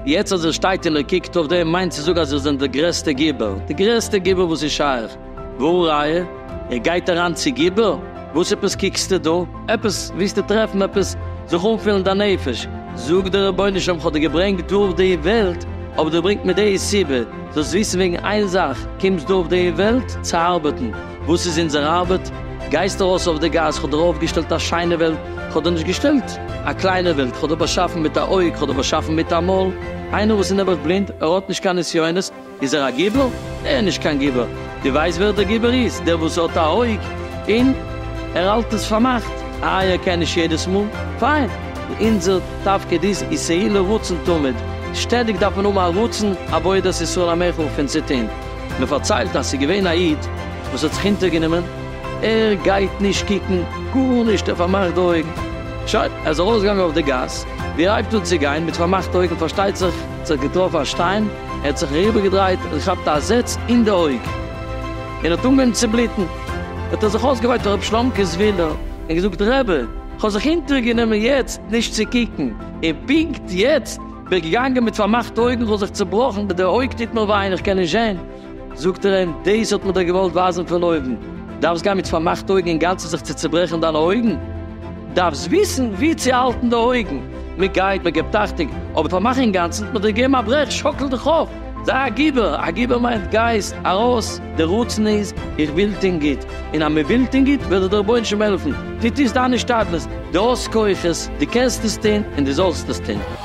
יעצט אז איר שטייט און איר קוקט אויף דעם, מיינט צו זאגן אז איר זענט דער גרעסטער גיבור, די גרעסטע גיבור וואס איז שייך, והא ראיה, איר גייט אריין צו גיבור. וואס עפעס קוקסטו דא? עפעס ווילסטו טרעפן? עפעס זיך אנפילן דיין נפש? זאג דער רבונו של עולם כ'האב דיר געברענגט דא אויף די וועלט, אבער דו ברענגט מיר די סיבה, זאלסט וויסן וועגן איין זאך, קומסט דא אויף די וועלט צו ארבעטן, וואס איז אונזער ארבעט? גייסט ארויס אויף די גאס, כ'האב דיר אויפגעשטעלט א שיינע וועלט, כ'האב דיר נישט געשטעלט א קליינע וועלט, כ'האב דיר באשאפן מיט א אויג, כ'האב דיר באשאפן מיט א מויל, איינער וואס איז נעבעך בלינד, ער האט נישט קיין נסיונות, איז ער א גיבור? נע נישט קיין גיבור, די ווייסט ווער דער גיבור איז? דער וואס האט א אויג אין ער האלט עס פארמאכט, איי ער קען נישט יעדעס מאל? פיין, אונזער תפקיד איז ישאי לרצון תמיד, שטעדיג דארף מען האבן א רצון עבודת ישראל המחול פון צו טוהן, מען פארציילט אז ס'איז געווען א איד וואס האט זיך אונטער גענומען, ער גייט נישט קוקן גארנישט ער פארמאכט די אויגן, שוין ער איז ארויס געגאנגען אויף די גאס, ווי ער הייבט אן צו גיין מיט פארמאכטע אויגן פארשטייט זיך האט זיך געטראפן א שטיין, ער האט זיך אריבערגעדרייט און געכאפט א זעץ אין די אויג און האט אנגעהויבן צו בלוטן, האט ער זיך אויסגעוויינט אויף רבי שלומקע'ס ווילע און געזאגט, רבי, איך האב זיך אונטערגענומען יעצט נישט צו קוקן, און פונקט יעצט בין איך געגאנגען מיט פארמאכטע אויגן, איך האב זיך צעבראכן, די אויג טוט מיר וויי און איך קען נישט זען. זאגט ער אים, דאס האט מען דיר געוואלט ווייזן פון אויבן, דארפסט גיין מיט פארמאכטע אויגן אינגאנצן זיך צו צעברעכן דיינע אויגן, דארפסט וויסן ווי צו האלטן די אויגן, מען גייט, מען געבט אכטונג, אבער פארמאך אינגאנצן האט מען דיר געגעבן א ברעך, שאקל דיך אויף, זיי א גיבור, א גיבור מיינט גייסט ארויס, די רצון איז איך וויל טון גוט, און אז מען וויל טון גוט וועט דיר דער רבונו של עולם העלפן, דו טוסט דיין השתדלות, דו האסט כוחות, דו קענסט עס טון און דו זאלסט עס טון.